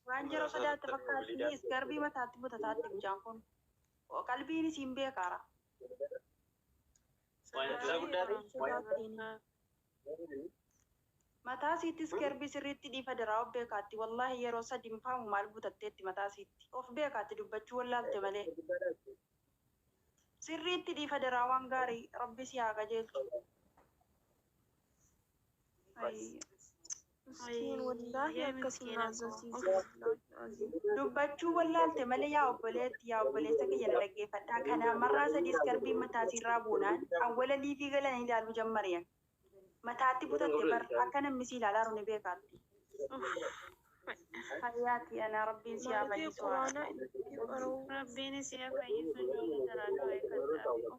Waan jara sodaatte fakkaatti is garbii mataatti butataatti mucaan kun. Qalbiin isiin beekaara. Sodaa guddaati. Sodaattiin. Mataa siittis garbii sirriitti dhiifa daraa of beekaatti wallaahi yeroo sadi mifaamu maal butatteetti mataa siitti. Of beekaatti dubbachuu wallaalte malee. Sirriitti dhiifa daraa waan gaarii rabbi si haa qajeelchu. Miskiin wallaahi akkasii na azzasiise wallaahi aziim. Dubbachuu wallaalte malee yaa obboleetti yaa obboleessa kiyya na dhaggeeffadhaa kanaa marraa sadii iskarbiin mataa siirraa buunaan awwala liivii galanii ilaaluu jammariyan. Mataatti butatte bar akka namni si ilaalaaru ni beekaatti. Hayyaati anaa rabbiin si haa fayyisu haa rabbiin. Rabbiin isii haa fayyisu ijoollee jaraa du'aa ifadhaa.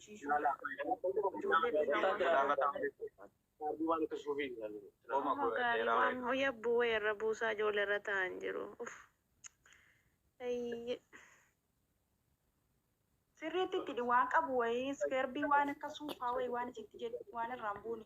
barsiisuu ijoollee dhiiraa Oma gaarii waan hoo yabbuu wayii irra buusaa ijoollee irra taa'an jiru. Uf. Ayyi. Sirriitti itti waan qabu wayii iskeerbii waan akka suufaa wayii waan itti jedhu waan irraan buune.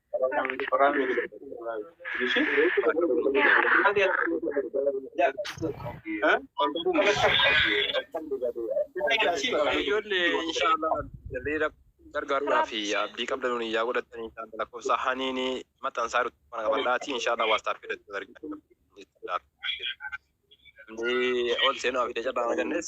Ijoollee inshaallah jallee gargaaruudhaa fi abdii qabdanuun yaa godhatan inshaallah lakkoofsa haniini maxxansaa jirtu kana qabadhaati inshaallah waastaaf fidatu argina. Ol seenuu fi dacaadhaa argannes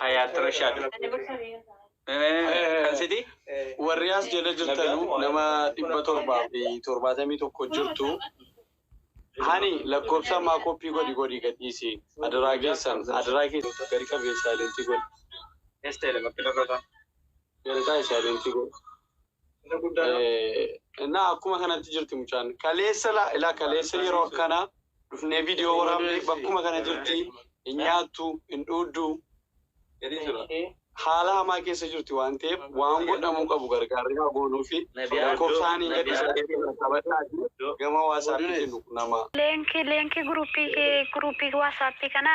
Hayaat Rashaad. Kan siti warri as jala jirtanu nama dhibba torbaa fi torbaatamii tokko jirtu hani lakkoofsa ammaa koppii godhi godhi gadhiisi adaraa keessan adaraa keessan gadi qabi saayilentii godhi Esta ele bakki dhokata. galataa saayilentii godhi. Isa guddaa dha. Innaa akkuma kanatti jirti mucaan. Kaleessa laa ilaa kaleessa yeroo akkana dhufnee viidiyoo waraabnee bakkuma kana jirti. Hin nyaattu, hin dhuuddu. Jedhee jira. Haala hamaa keessa jirti waan ta'eef waan godhamuu qabu gargaarri haa goonuu fi lakkoofsaan hin gadhiisaa jedhee jira. Taphadhaatii gama waasaappii kennu qunamaa. Leenkii leenkii guruppii kee guruppii waasappii kana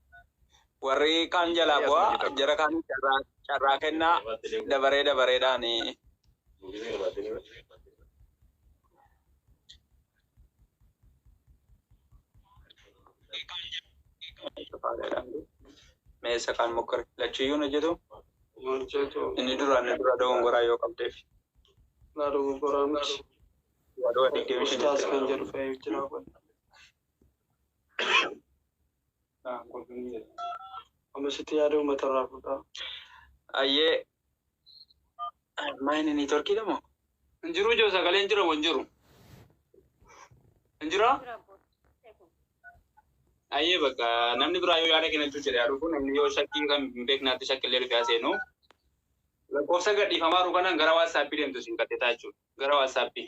warri kaan jalaa bu'aa jara kaanii carraa carraa kennaa dabaree dabareedhaan meessa kaan mokkore lachuyyuu hin hojjetu inni duraan inni dura dogongoraa yoo qabdeef wadoo digdamii shan Ustaas kan jedhu fayyuu jira. Naan kolfanii jedha. Amma sitti yaada uummata irraa fuudhaa. Ayyee maayini niitworkii dha moo? Hin jiruu joo sagalee hin jira moo hin jiru? Hin jiraa? Ayyee bakka namni biraa yoo yaada kennachuu jedhe haa dhufu namni yoo shakkii kan hin beeknaatti shakkillee dhufee haa seenu. Lakkoofsa gadhiifamaa jiru kanaan gara waatsaappii deemtu isin gadhetaa jechuudha. Gara waatsaappii.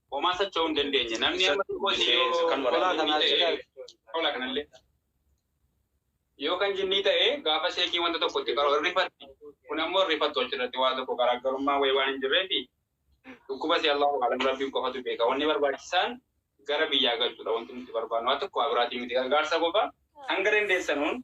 Homaa socho'uu hin dandeenye. Namni amma xiqqootti yoo hola kanaa ta'e hola kanallee yoo kan jinnii ta'e gaafa seekii wanta tokko itti qaroo hin rifatti. Kun ammoo rifattu achirratti waa tokko garaagarummaa wayii waan hin jirreefi dhukkuba si Allahu alam rabbiin qofatu beeka. Wanni barbaachisaan gara biyyaa galchudha wanti nuti barbaannu. Waa tokko waa biraatii miti gargaarsa qofa hanga dandeessanuun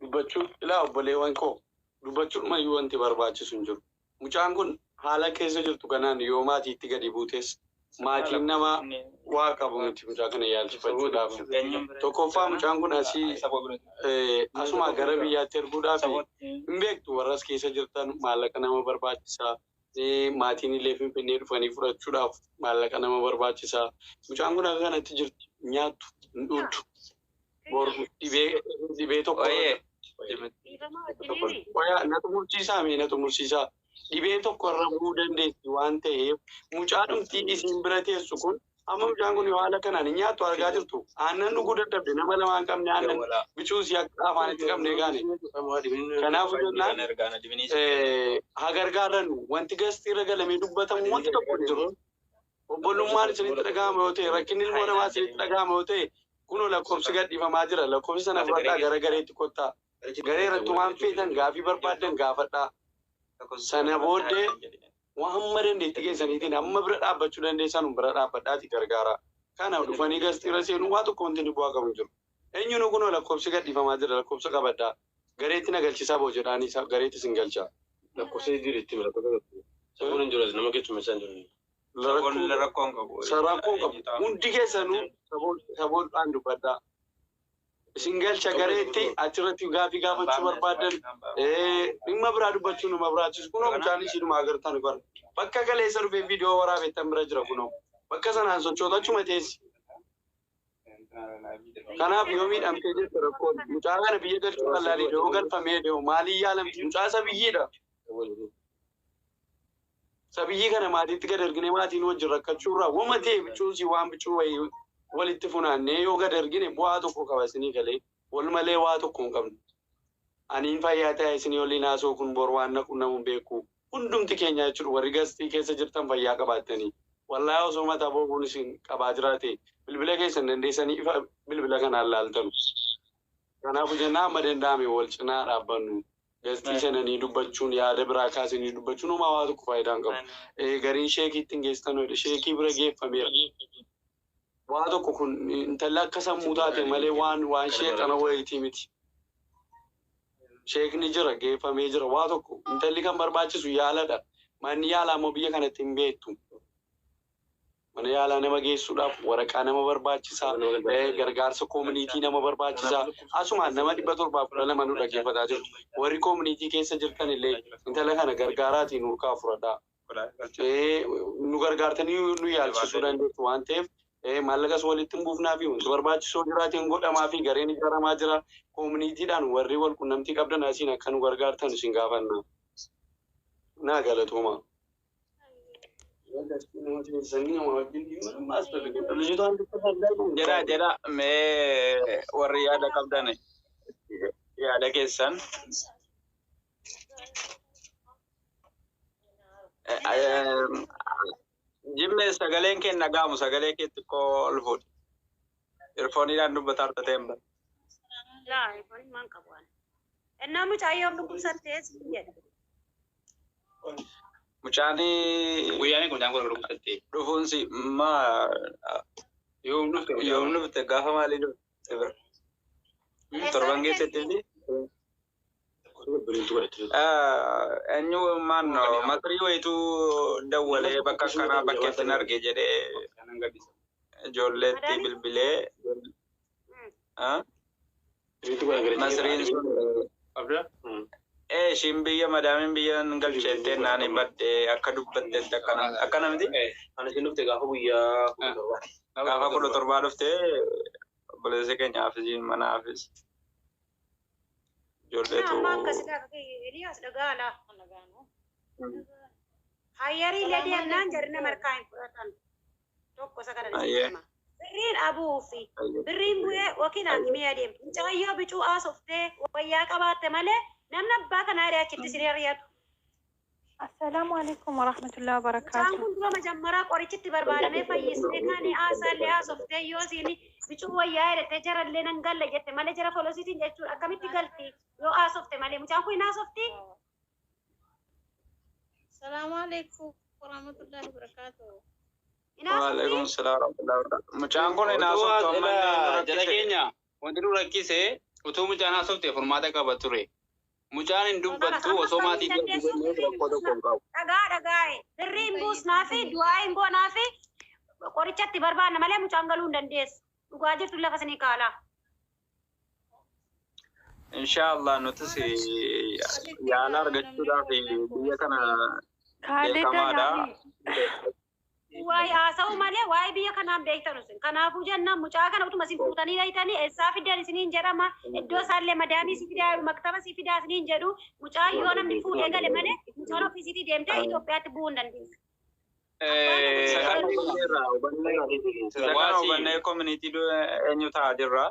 dubbachuu ilaa obboleewwan koo dubbachudhuma iyyuu wanti barbaachisu hin jiru mucaan kun haala keessa jirtu kanaan yoo maatiitti gadi buutes maatiin nama waa qabu miti mucaa kana yaalchifachuudhaaf tokkoffaa mucaan kun asii asumaa gara biyyaatti erguudhaaf hin beektu warras keessa jirtan maallaqa nama barbaachisa maatiin illee finfinnee dhufanii fudhachuudhaaf maallaqa nama barbaachisa mucaan kun akka kanatti jirti nyaattu hin dhuuddu Bor dhibee dhibee tokko Qoyee. Qoyaa na xumursiisaa mee na xumursiisaa. Dhibee tokko irra bu'uu dandeessi waan ta'eef mucaa dhumtii isiin bira teessu kun amma mucaan kun yoo haala kanaan hin nyaattu argaa jirtu aannan dhuguu dadhabde nama lama hin qabne aannan bicuu si akka afaanitti qabne gaane. Kanaafuu jennaan, Eh, haa gargaarrannu wanti gastii irra galamee dubbatamu wanti tokko hin jiru. Obbolummaan isinitti dhaga'amu yoo ta'e, rakkinni ilmoo namaa isinitti dhaga'amu yoo ta'e, kunoo lakkoofsi gad dhiifamaa jira. Lakkoofsa sana fudhadhaa gara gareetti kottaa. Garee irratti waan feetan, gaaffii barbaaddan gaafadhaa. Sana booddee waan hamma dandeettii keessaniitiin hamma bira dhaabbachuu dandeessanu bira dhaabbadhaatii gargaaraa. Kana dhufanii gastii irra seenuun waa tokko wanti inni bu'aa qabu hin jiru. Enyunu kuno lakobsi gad dhifama jira lakobsa qabadha gareeti na galchisa bo jedhaani sa gareeti sin galcha. Lakkofsa jijjiiri itti himi lakkofsa tokko Isa kun hin jiru as nama keessummeessaa hin jiru. Rakkoon rakkoo hin qabu. Isa rakkoo hin qabu. Hundi keessanuu saboodhaan dubbadhaa. Isin galcha gareetti achirratti gaafii gaafachuu barbaaddan dhimma biraa dubbachuu nu barbaachisa. Kunoo mucaan ishiidhuma agartan bara. Bakka kaleessa dhufee viidiyoo waraabettan bira jira kunoo. Bakka sanaan sochoota achuma teessi. Kanaaf yoo miidhamtee jirtu rakkoon mucaa kana biyya galchuu wallaalee yoo galfamee deemu maaliin yaalamti? Mucaa sabiyyiidha. Sabiyyii kana maatiitti gad ergine maatiin wajjin rakkachuurraa wama ta'e bicuusii waan bicuu wayii walitti funaannee yoo gad ergine bu'aa tokko qaba isinii galee. Wal malee waa tokko hin qabnu. Ani hin fayyaa ta'e isinii waliin haasa'u kun bor waan na qunnamu hin beeku. Hundumti keenya jechuudha warri Gastii keessa jirtan fayyaa qabaattanii. Wallahi osoo mataa boobuun isin qabaa jiraate bilbila keessan dandeessanii ifa bilbila kanaan laaltanu. Kanaafu jennaa hamma danda'ame wal cinaa haa dhaabbannu. Gastii seenanii dubbachuun yaada biraa kaasanii dubbachuun homaa waa tokko faayidaa hin qabu. Gariin sheekiitti hin geessitanu jedhe. Sheekii bira geeffameera. Waa tokko kun intalli akka sammuu taate malee waan waan sheexana wayiitii miti. Sheekni jira geeffamee jira waa tokko intalli kan barbaachisu yaaladha manni yaalaa immoo biyya kanatti hin beektu. Mana yaalaa nama geessuudhaaf waraqaa nama barbaachisa gargaarsa koominiitii nama barbaachisa asumaan nama 712 nu dhaggeeffataa jirtu warri koominiitii keessa jirtan illee intala kana gargaaraatii nu harkaa fudhadhaa. nu gargaartanii nu yaalchisuu dandeessu waan ta'eef maallaqas walitti hin buufnaa fi wanti barbaachisoo jiraatiin godhamaa fi gareen ijaaramaa jira. Koominiitiidhaan warri wal qunnamtii qabdan asiin akka nu gargaartan isin gaafanna. Naa galatoomaa. Jedhaa jedhaa mee warri yaada qabdan yaada keessan. Jimme sagaleen kee dhagaamu sagalee kee xiqqoo ol fuudhi. Irfooniidhaan dubbataa irra ta'een bara. Laa, ifoon maan qabu waan. Ennaa mucaayyoo dhukkubsattee si jedha. Mucaan Guyyaan kun daangoo dhukkubsattee. dhufuunsi maa Yoom dhufte yoom dhufte gaafa maalii dhufte bara. Torban keessatti fi Eenyummaan makrii wayitu dawwalee bakka akkanaa bakkeetti hin arge jedhee ijoolleetti bilbilee masriin sun ishiin biyya madaamiin biyya hin galcheettee naani badde akka dubbattetti akkana akkana miti gaafa kudha torbaa dhuftee obboleessi keenya haafisiin mana haafis Ijoollee Amma too akkasi dhaga kiyya Eliyaas dhagaa alaa kan dhagaanu. Hayyarii illee deemnaan jarri nama harkaa hin fudhatan. Tokko isa kana Ayyee. dhiisee deema. Birriin abuu fi birriin bu'ee yookiin haakimii adeema. Mucayyoo bicuu haasoftee wayyaa qabaatte malee namni abbaa kanaa irraa achitti siree ari'atu. Assalaamu alaikum warahmatullahi Isaan wabarakaatu. kun dura majammaraa qorichitti barbaadamee fayyisnee kaanii haasaallee haasoftee yoo isiin bicuu wayyaa jedhete jarallee nan galla jette malee jara folosiitiin jechuun akkamitti galti yoo haasofte malee mucaan kun hin haasofti. Salaamu alaikum warahmatullahi wabarakatuh. Hin haasofti. Waalaikum salaam warahmatullahi wabarakatuh. Mucaan kun hin haasoftu ammallee nu rakkise. Wanti nu rakkise utuu mucaan haasofte furmaata qaba ture. Mucaan hin dubbattu osoo maatii ishee argitee illee rakkoo tokko hin qabu. Dhagaa dhagaa'e. Birrii hin buusnaafi, du'aa'ii hin goonaafi, qoricha itti barbaanna malee mucaan galuu hin dandeessu. Dhugaa jirtu lafa isinii kaala. Inshaa Allah nutis yaala argachuudhaaf biyya kana Kaalida beekamaadha. naani. Waa'ee haasa'uu malee waa'ee biyya kanaan beektan isin. Kanaafuu jennaan mucaa kana utuma isin fuutanii dhayxanii eessaa fiddan isiniin jedhama. Iddoo isaallee madaamii si fidaa jedhu maktaba si fidaa isiniin jedhu. Mucaan yoo namni fuudhee gale malee mucaan ofiisiitii deemtee Itoophiyaatti bu'uu hin dandeessu. Isa kana hubanneerra, hubanneerra. Isa kana hubannee community du- eenyu ta'a jirra.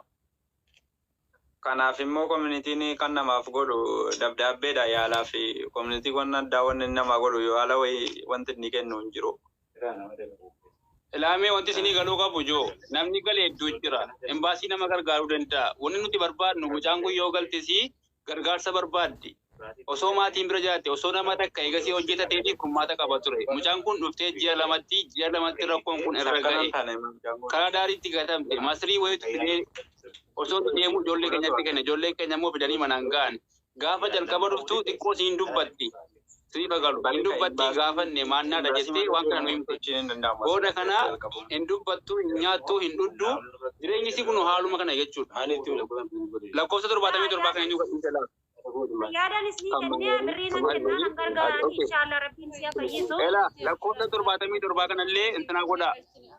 Kanaaf immoo community'n kan namaaf godhu dabdaabbeedha yaalaa fi community wanna addaa wanni inni namaa godhu yaala wayii wanti inni kennu hin jiru. Ilaa mee wanti isinii galuu qabu jo namni gale hedduu jira. Embassy nama gargaaruu danda'a. Wanni nuti barbaadnu mucaan kun yoo galtesii gargaarsa barbaaddi osoo maatiin bira jiraatte osoo nama takka eegasii hojjetateefi kurmaata qaba ture mucaan kun dhuftee ji'a lamatti ji'a lamatti rakkoon kun irra ga'e karaa daariitti gatamte masrii wayiitu fidee osoo inni deemuu ijoollee keenyatti kenne ijoolleen keenya immoo fidanii manaan ga'an gaafa jalqaba dhuftu xiqqoo siin dubbatti siif haa galu. Hin dubbattii hin gaafanne maannaa dha jettee waan kana nu himte. Booda kana hin dubbattu, hin nyaattu, hin dhuddu. Jireenyi isii kunoo haaluma kana jechuu dha. Lakkoofsa 77 kan eenyuu gadhiise laata? Fayyaadan isnii kennee birrii nan kennaa nan gargaaraanii inshaallaa rabbiin isiha fayyisu. Elaa lakkoofsa 77 kana illee intinaa godhaa.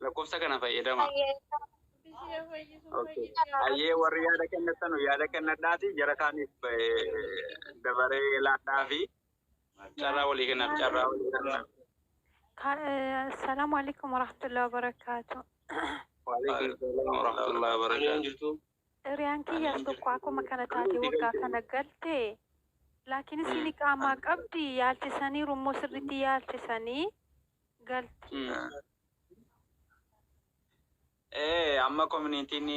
Lakkoofsa kana fayyadamaa. Okay. Ayyee warri yaada kennattanu yaada kennadhaati jara kaaniif eh, dabaree laadhaa fi carraa walii kennaaf carraa walii kennaaf. Assalamu alaikum warahmatullahi wabarakatuh. Waalaikum salaam warahmatullahi wabarakaatu. Hiriyaan kiyya tokko akkuma kana taate waggaa kana galte laakiin isiin qaamaa qabdi yaalchisanii rummoo sirriitti yaalchisanii galti. Ee amma koominitiin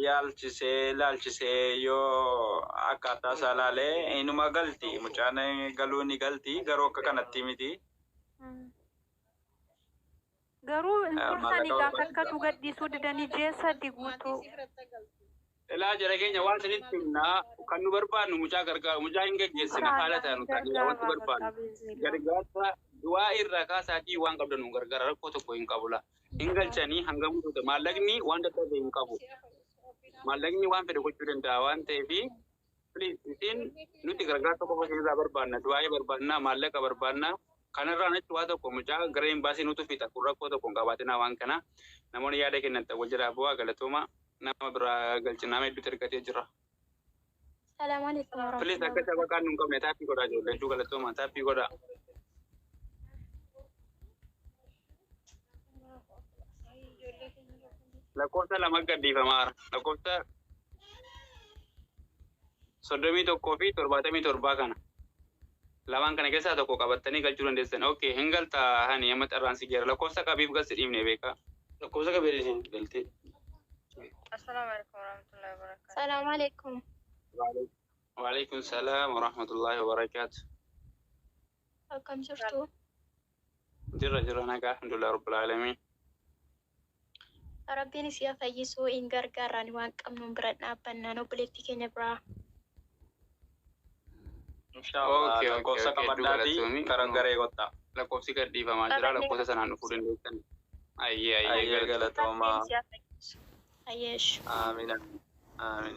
yaalchisee laalchisee yoo akkaataa isaa laalee inuma galti mucaan galuu ni galti garuu akka kanatti miti. Garuu hin turtani gaafa akkatu gadhiisuu didanii jeessa diguutuu. Elaa jara keenya waan isinitti himna kan nu barbaannu mucaa gargaaru mucaa hin gaggeessina haala ta'e nu taanee wanti barbaannu gargaarsa du'aa irraa kaasaatii waan qabda nu gargaara rakkoo tokko hin qabu la hin galchanii hanga mutuuta maallaqni waan dadhabe hin qabu maallaqni waan fedhe gochuu danda'a waan ta'eef Please isin nuti gargaarsa qofa isinirraa barbaanna, du'aa'ii barbaanna, maallaqa barbaanna. Kanarraan achi waa tokko mucaa gara imbaasii nutu fixa kun rakkoo tokko hin qabaatinaa waan kana. Namoonni yaada kennantan wal jalaa bu'aa galatoomaa nama biraa galchi nama hedduutu ergatee jira. Salaam alaikum Please warahmatullahi akka wabarakatuh. shabaqaan nu hin qabne taappii godhaa ijoollee hedduu galatoomaa taappii godhaa. lakkoofsa lama gadhiifama haara lakkoofsa soddomii tokkoo fi torbaatamii torbaa kana lamaan kana keessaa tokko qabattanii galchuu dandeessan ok hin galtaa hani amma carraan si jira lakkoofsa qabiif galsi dhiifne beekaa lakkoofsa qabee isin galtee Assalamu alaikum warahmatullahi wabarakatuh. Salaamu alaikum. waalaikum salaam warahmatullaahi wabarakaatu Akkam jirtu? Jirra jirra nagaa alhamdulillah rabbil aalamiin. Rabbiin isii haa fayyisu in gargaarraani waan qabnuun bira dhaabbannaan obboleettii keenya biraa. Inshallah Okay, okay, lakkoofsa okay, qabadhaatii dugalatoomii. kara Mm. garee kottaa. Lakkoofsi gad dhiifamaa jira Qabanne. lakkoofsa sanaan dhufuu dandeessan. Ayyee ayyee Ayyee galata. Rabbiin galatooma. isii haa fayyisu. Ayyeesh. Aamiin. Aamiin.